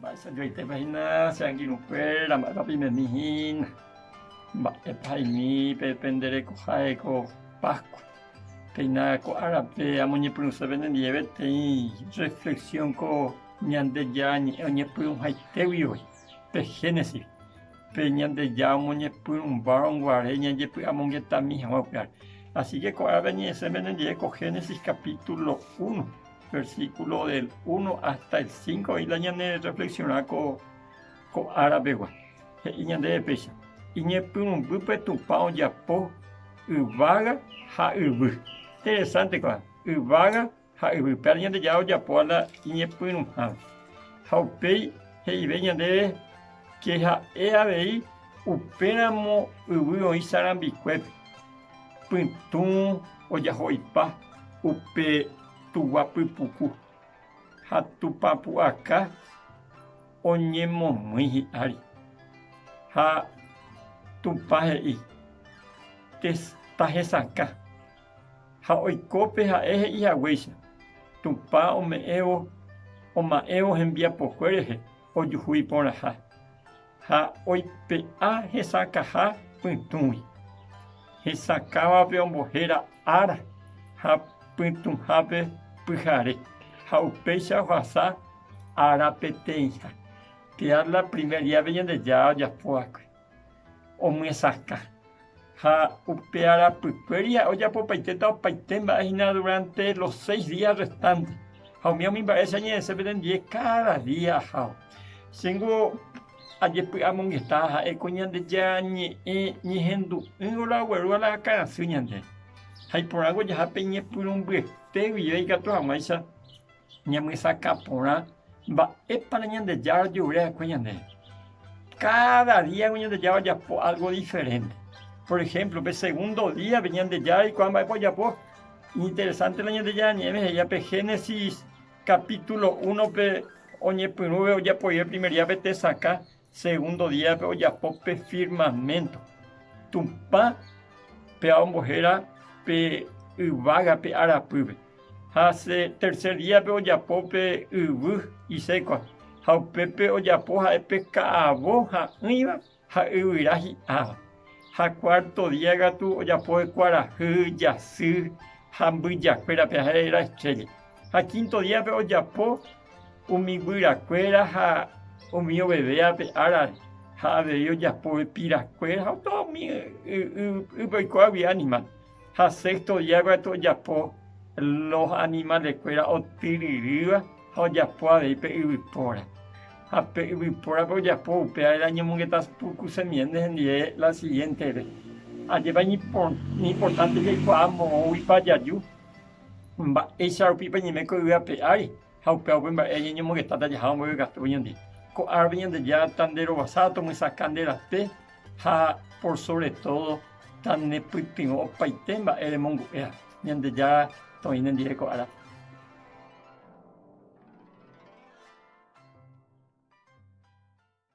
Mba'éicha joaitépa hína che angirũkuéra, mba'épa peimemi hína, mba'épa haimi pe pende rekoha heko Pascua. Péina ko árape amoñepyrũse penendie peteĩ reflexión ko Ñandejára ñe'ẽ oñepyrũhaitégui voi pe Génesis. Pe Ñandejára omoñepyrũmba guare ñajepy'amongetami hag̃ua upéva. Asíke ko'ág̃a añe'ẽse mendive ko Génesis kapítulo uno, versíkulo del uno ásta el sínko oĩ la ñanerrefleksiona ko árapegua. He'i ñandéve péicha, Iñepyrũmbýpe Tupã ojapo yvága ha yvy. Interesánte ko'ã, yvága Ha yvype ára Ñandejára ojapóva la iñepyrũhágui. Ha upéi he'ivéi ñandéve ke ha'e avei upéramo yvy oĩ sarambikuépe, pytũ ojaho ipa upe tugua pypuku, ha Tupã pu'aka oñemomýi hi'ári. Ha Tupã he'i, Tahesakã. ha oiko pe ha'e he'i haguéicha, Tupã ome'ẽvo oma'ẽvo hembiapokué rehe ojuhu iporãha, ha oipe'a hesakãha pytũgui. Hesakãvape ombohéra ára ha pytũhápe pyhare, ha upéicha ohasa ára peteĩha. Teatla primer diápe Ñandejára ojapo va'ekue. omyesakã. Ha upe arapykue ria ojapopaitéta opaite mba'e hína duránte los séis día rrestánte. Ha umi umi mba'e che añe'ẽse pendendie káda día aháva. Chéngo ajepy'amongeta ha'éko Ñandejára Ñe'ẽ ñehendu'ỹvo la oguerúva la akãrasy ñandéve. Ha iporãko jaha pe ñepyrũmbyete guive ikatu hag̃uáicha ñemyesakã porã mba'épa Ñandejára ojeguere va'ekue ñande. Káda díape Ñandejára ojapo álgo diferénte. Por ehémplo, pe segundo díape Ñandejára eikuaa mba'épa ojapo. Interesánte la Ñandejára Ñe'ẽme he'íva pe Génesis kapítulo únope oñepyrũve ojapoive primer díape tesakã. Segundo díape ojapo pe firmamento, Tupã péva ombohéra pe yvága pe arapýpe. Ha tercer díape ojapo pe yvy isékua, ha upépe ojapo ha'e pe ka'avo ha'ỹiva ha yvyra hi'áva. Ha cuarto día katu ojapo kuarahy, jasy ha mbyjakuérape, ha'e era estrella. Ha quinto díape ojapo umi guyrakuéra ha umi oveve ape árare, ha avei ojapo epirakuéra ha opa umi ypýpe oikuaágui animal. Ha sexto día katu ojapo los animalekuéra otyryrýva ha ojapo avei pe yvypóra. Ha pe yvypórape ojapo upévare añomongeta puku semiénte hendive la siguiéntere, ajépa iñimportánte jaikuaa moõguipa jaju. Mba'éicha rupípa ñeme ko yvy ape ári, ha upéva upe mba'e añeñomogetáta jaha omboyvekatu oñondi. Ko árape Ñandejára tanderovasáva tomyesakã nde rape ha por sóvre tódo tanepytyvõ opaite mba'e remongu'éva. Ñandejára toĩ nendive ko árape.